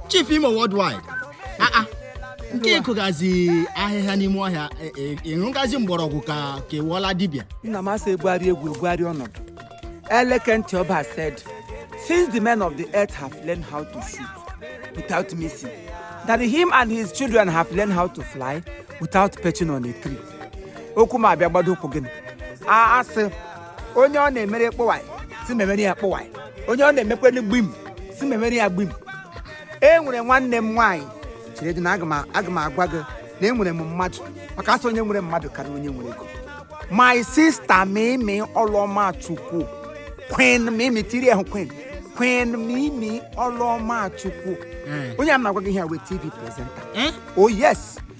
chief imo worldwide ah, ah. nke ịkụgazi ahịhịa n'ime ọhịa e, e, ịṅụgazi mgbọrọgwụ ka ka ewuola dibịa nna m asị egwuarị egwu egwuarị ọnọdụ eleke ntị ọba said since the men of the earth have learned how to shoot without missing that him and his children have learned how to fly without perching on a tree okwu m abịa gbado ụkwụ gịnị a asị onye ọ na-emere kpọwaị si memere ya kpọwaị onye ọ na-emekwere gbim si memere ya gbim e nwere nwanne m nwaanyị chere dị na aga m aga m agwa gị na enwere m mmadụ maka asị onye nwere mmadụ karịa onye nwere ego my sister mimi ọlụọma chukwu queen mimi tiri ahụ queen queen mimi ọlụọma chukwu onye a m na-agwa gị ihe a wụ a tv presenter oh yes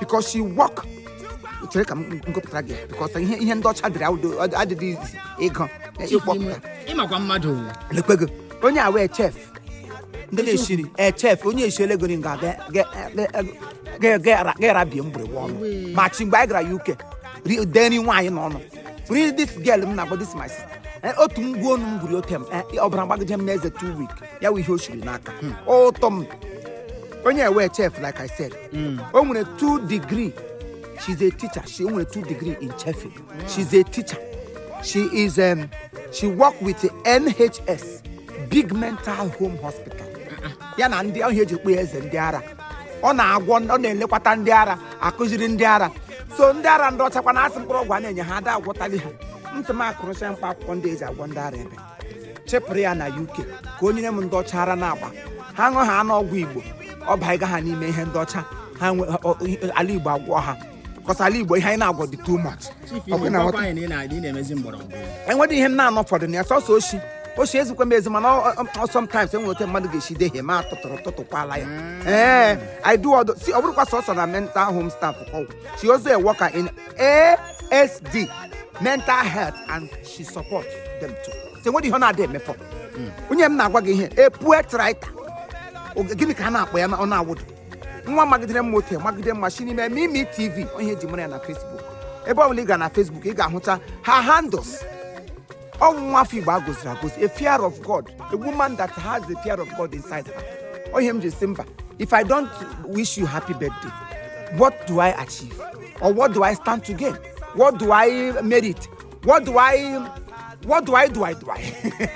because she work chere ka m gụpụtara gị because ihe ihe ndị ọcha dịrị awụdo adịdị izi ịgụ ịkpọpụta ịmakwa mmadụ lekwe gị onye a wụ a chef ndị na-eshi nri a chef onye eshiele gị nga ga-era bie mgbịrịgba ọnụ ma chi mgbe anyị gara uk ri- dee nri nwaanyị n'ọnụ ri this girl m na-agba this my sister Eh, otu m gbuo onu m gwuri ote m eh, ọbara gbagide m n'eze two week ya wụ ihe o shiri n'aka ụtọ m onye a wụ a chef like i said o nwere two degree she's a teacher she o nwere two degree in chefing she's a teacher she is um, she work with nhs big mental home hospital ya na ndị ọ ihe eji kpọ ya eze ndị ara ọ na-agwọ ọ na-elekwata ndị ara akụziri ndị ara so ndị ara ndị ọchakwa na-asị mkpụrụ ọgwụ a na-enye ha ada agwọtali ha ntị m akụrụcha mkpa akwụkwọ ndị eji agwọ ndị ara ebe chịpụrụ ya na uk ka o nyere m ndị ọcha ara na-agba ha ṅụọ ha aṅụọ ọgwụ igbo ọ baiga ha n'ime ihe ndị ọcha ha nwe ọ- ọ- ala igbo agwọ ha because ala igbo ihe anyị na-agwọ dị too much Ọ bụ na nghọta- enwedị ihe m na-anọ fọdụ na ya sọsọ oshi oshi ezikwa m ezi mana ọ- ọ- ọ sometimes enwere ote mmadụ ga-esi dehie ma tụtụrụ tụtụkwala ya ee i do ọdụ si ọ bụdịkwa sọsọ na mental home staff ọgwụ she also a worker in asd mental health and she support them too so enwedị ihe ọ na-adị emefọ onye m na-agwa gị ihe a poet writer Oge- gịnị ka a na-akpọ ya na- ọ na-awụdụ nwa magidere mma otu magide mma si n'ime mimi tv onye eji mara ya na facebook ebe ọbụla ị gara na facebook ị ga-ahụcha her handles ọ wụ nwa afọ igbo a goziri agozi a fear of god a woman that has the fear of god inside her onye m ji si mba if i don't wish you happy birthday what do i achieve or what do i stand to gain what do i merit what do I what do I do I do I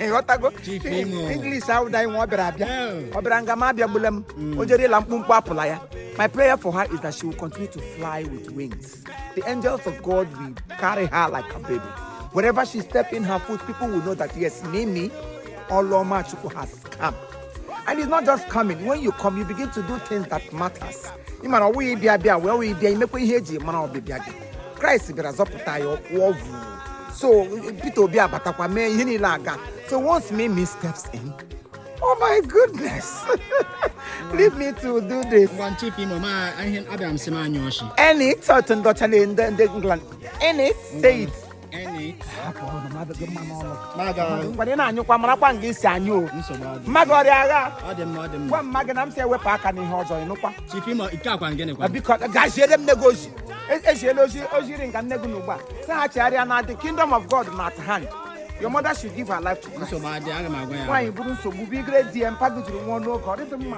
ghọtago Chief Imo. English ahụ da nwa ọ bịara abịa Yeah. ọ bịara nga m abịagbula m o jere ịla mkpumkpu apụla ya my prayer for her is that she will continue to fly with wings the angels of God will carry her like a baby wherever she step in her foot people will know that yes Mimi Oloma Chukwu has come and it's not just coming when you come you begin to do things that matters ị mara ọ wụ ya ịbịa bịa wee wụ ịbịa i mekwa ihe e ji mara ọbịbịa gị kraịst bịara zọpụta ya ọkwụọ vu so peter obi abatakwa mee ihe niile aga so once Mimi steps in oh my goodness leave me to do this ngwa Chief Imo ma ihe abịara m sị m anya ọchị any certain daughter in the england any say it ngwade na-anyụkwa marakwa nga i si anyụ o mma gị ọrịa agha gwa mma gị na m sị ya wepụ aka n'ihe ọjọọ ị nụkwa biko gaziere m nne gị ozi eziela ozi o ziri nga nne gị na ugbu a sị ha chegharịa na the kingdom of god na at hand your mother should give her life to Christ. nwaanyị buru nsogbu bugara di ya mpa gị jiri nwụọ n'oge ọ dịghị mma